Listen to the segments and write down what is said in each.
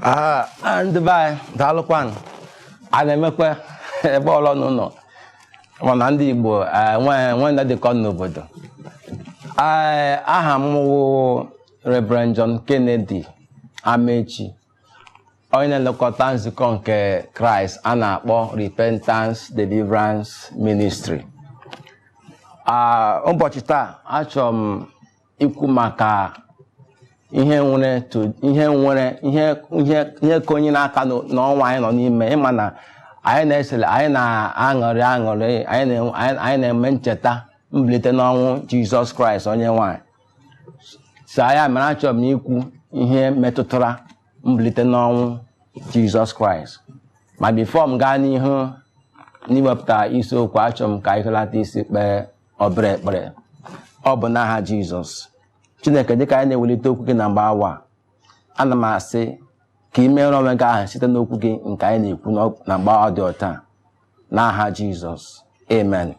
Ah, ah, ndị be anyị daalụkwanụ a na-emekwa ebe ọlọ n'ụlọ mana ndị Igbo eh, nwe nwe ndị dịkọ n'obodo Eh, aha m wụ Reverend John Kennedy Amechi onye na-elekọta nzukọ nke kraịst a na-akpọ repentance deliverance ministry ụbọchị taa achọrọ m ikwu maka ihe nwere ihe nwere ihe ihe ihe ka onye na-aka n'ọnwa anyị nọ n'ime ịma na anyị na-esele anyị na-aṅụrị aṅụrị anyị na-eme ncheta mbilite n'ọnwụ jizọs kraịst onye nwe anyị so ya mere achọrọ m ikwu ihe metụtara mbilite n'ọnwụ jizọs kraịst ma before m gaa n'ihu n'iwepụta isiokwu achọ m ka anyị hulata isi kpee obere ekpere ọ bụ n'aha jizọs chineke dịka anyị na-ewelite okwu gị na mgbe awa ana m asị ka ị meere onwe gị aha site n'okwu gị nke anyị na-ekwu na mgbe ọ dị otu a n'aha jizọs amen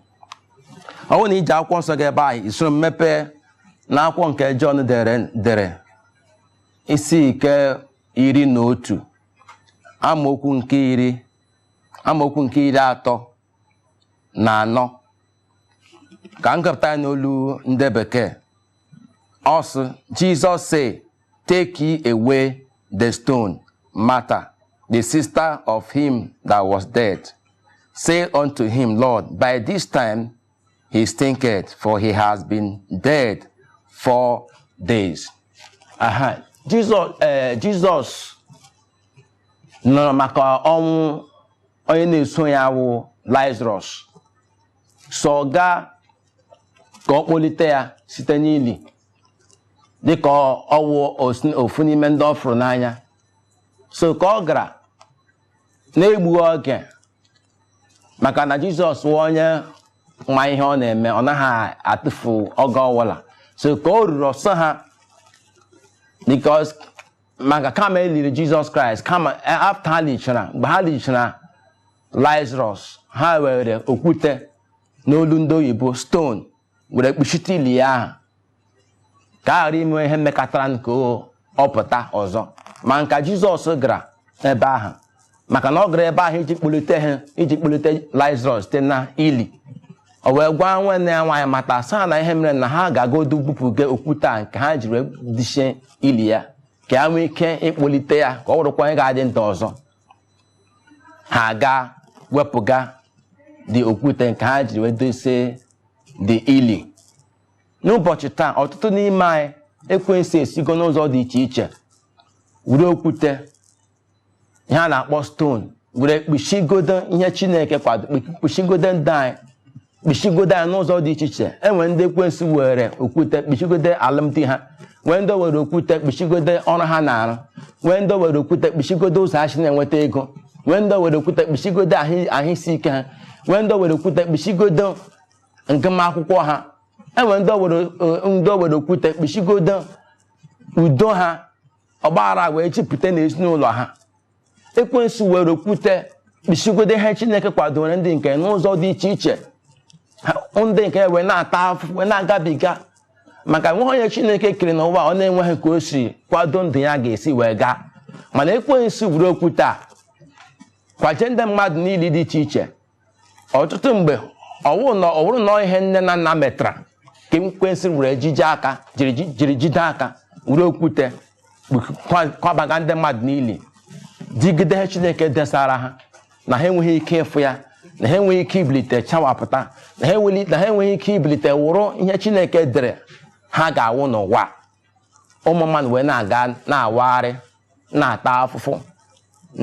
ọ bụrụ na i ji akwụkwọ nsọ gị ebe ahụ i soro m mepee na akwụkwọ nke jọn dere dere isi nke iri na otu amaokwu nke iri amaokwu nke iri atọ na anọ ka m gụpụta ya n'olu ndị bekee ọ sị Jesus said Take ye away the stone. Martha, the sister of him that was dead, said unto him, Lord, by this time he stinketh, for he has been dead four days. Aha. Jizọs ee Jizọs nụrụ maka ọnwụ onye na-eso ya wụ Lazarọs so gaa ka ọ kpọlite ya site n'ili dịka ọ wụ ofu n'ime ndị ọ fụrụ n'anya so ka ọ gara na-egbughị oge maka na jizọs wụ onye ma ihe ọ na-eme ọ naghị atụfu oge ọ wụla so ka o ruru ọ sị ha because maka kama e liri jizọs kraịst kama after ha lichara mgbe ha lichara lazarus ha were okwute n'olu ndị oyibo stone were kpuchite ili ya ahụ ka a ghara ime ihe mekatara nke ọ pụta ọzọ mana ka jizọs gara ebe ahụ maka na ọ gara ebe ahụ iji kpọlite ha iji kpọlite Lazarọs site na ili o wee gwa nwanne ya nwaanyị Martha sị ha na ihe mere na ha gagodu bupụga okwute a nke ha jiri dochie ili ya ka ya nwee ike ịkpọlite ya ka ọ wụrụkwa onye ga-adị ndụ ọzọ ha gaa wepụga the okwute nke ha jiri wee dosie the ili n'ụbọchị taa ọtụtụ n'ime anyị ekwensu esigo n'ụzọ dị iche iche were okwute ihe a na-akpọ stone were kpuchigodo ihe chineke kwado kpuchigodo ndụ anyị kpuchigodo ya n'ụzọ dị iche iche enwere ndị ekwensu were okwute kpuchigodo alụmdi ha nwee ndị o were okwute kpuchigodo ọrụ ha na-arụ nwee ndị o were okwute kpuchigodo ụzọ ha si na-enweta ego nwee ndị o were okwute kpuchigodo ahụ isi ike ha nwee ndị o were okwute kpuchigodo ngụm akwụkwọ ha enwere ndị o were okwute kpuchigodo udo ha ọgbaghara wee jupụta n'ezinụlọ ha ekwensu were okwute kpuchigodo ihe chineke kwadoro ndị nke n'ụzọ dị iche iche ndị nke wee na-ata afụfụ wee na-agabiga maka enweghị onye chineke kere n'ụwa ọ na-enweghị ka o si kwado ndụ ya ga-esi wee gaa mana ekwensu were okwute a kwaje ndị mmadụ n'ili dị iche iche ọtụtụ mgbe ọ wụrụ na ọ ihe nne na nna metara ka ekwensu were jide aka jiri ji- jiri jide aka were okwute kwa- kwabaga ndị mmadụ n'ili digide ihe chineke desara ha na ha enweghị ike ịfụ ya na ha enweghị ike ibilite chawapụta na ha enweghị na ha enweghị ike ibilite wụrụ ihe chineke dere ha ga-awụ n'ụwa ụmụ mmadụ wee na-aga na-awagharị na-ata afụfụ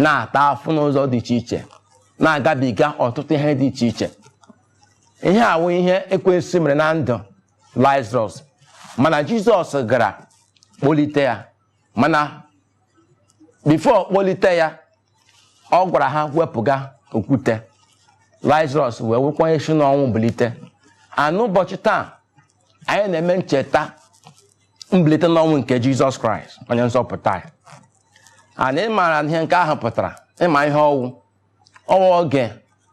na-ata afụ n'ụzọ dị iche iche na-agabiga ọtụtụ ihe dị iche iche ihe a wụ ihe ekwensu mere na ndụ Lazarus mana Jizọs gara kpọlite ya mana before ọ kpọlite ya ọ gwara ha wepụga okwute Lazarus wee wụkwa onye si n'ọnwụ bilite and n'ụbọchị taa anyị na-eme ncheta mbilite n'ọnwụ nke Jizọs Kraịst onye nzọpụta anyị and ị maara ihe nke ahụ pụtara ị ma ihe ọ wụ ọ wụ oge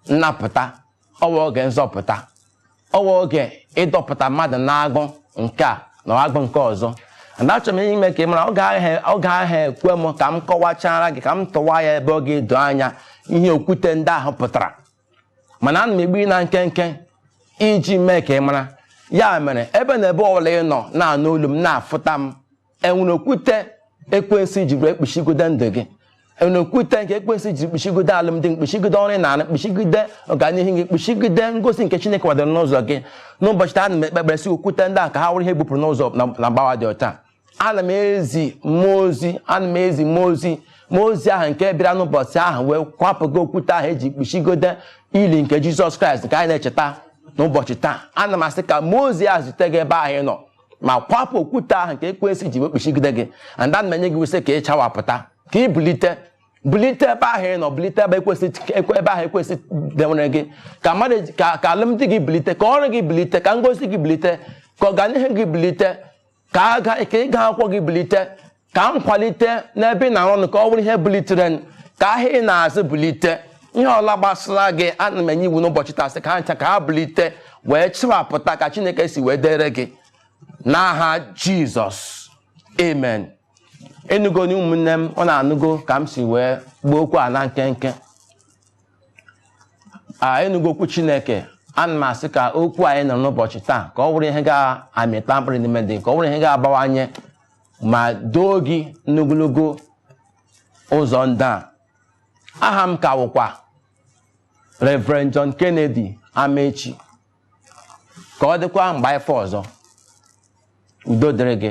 nnapụta ọ wụ oge nzọpụta ọ wụ oge ịdọpụta mmadụ n'agụ nke a na agụ nke ọzọ and achọrọ m ime ka ị mara oge agaghị ekwe m ka m kọwachara gị ka m tụwa ya ebe ọ ga-edo anya ihe okwute ndị ahụ pụtara mana ana m egbu ya na nkenke iji mee ka ị mara ya mere ebe na ebe ọbụla ị nọ na-anụ olu m na-afụta m enwere okwute ekwensu ji were kpuchigodo ndụ gị enwere okwute nke ekwensu ji kpuchigodo alụmdi gị kpuchigodo ọrụ ị na-arụ kpuchigodo ọganihu gị kpuchigodo ngọzi nke chineke kwadoro n'ụzọ gị n'ụbọchị taa ana m ekpe ekpere sị okwute ndị a ka ha wụrụ ihe e bupụrụ n'ụzọ na- na mgbawa dị ọcha ana m ezi mmụọ ozi ana m ezi mmụọ ozi mmụọ ozi ahụ nke bịara n'ụbọchị ahụ wee kwapụga okwute ahụ eji kpuchigodo ili nke jizọs kraịst nke anyị na-echeta n'ụbọchị taa ana m asị ka mmụọ ozi a zute gị ebe ahụ ị nọ ma kwapụ okwute ahụ nke ekwensu ji wekpuchigide gị and ana m enye gị iwu sị ka ị chawapụta ka ị bulite bulite ebe ahụ ị nọ bulite ebe ekwensu ebe ahụ ekwensu dewere gị ka mmadụ ka ka alụmdi gị bulite ka ọrụ gị bulite ka ngozi gị bulite ka ọganihu gị bulite ka aga ka ịga akwụkwọ gị bulite ka nkwalite n'ebe ị na-arụ ọrụ ka ọ bụrụ ihe bulitere ka ahịa ị na-azụ bulite ihe ọbụla gbasara gị ana m enye iwu n'ụbọchị taa sị ka ha ncha ka ha bulite wee chawapụta ka chineke si wee dere gị n'aha jizọs amen ị nụgo na ụmụnne m unu anụgo ka m si wee gbuo okwu a na nkenke a ị nụgo okwu chineke ana m asị ka okwu anyị nụ n'ụbọchị taa ka ọ bụrụ ihe ga-amịta mkpụrụ n'ime gị ka ọ bụrụ ihe ga-abawanye ma duo gị n'ogologo ụzọ ndụ a aha m ka wụkwa Reverend John Kennedy Amechi ka ọ dịkwa mgbe ife ọzọ udo dịrị gị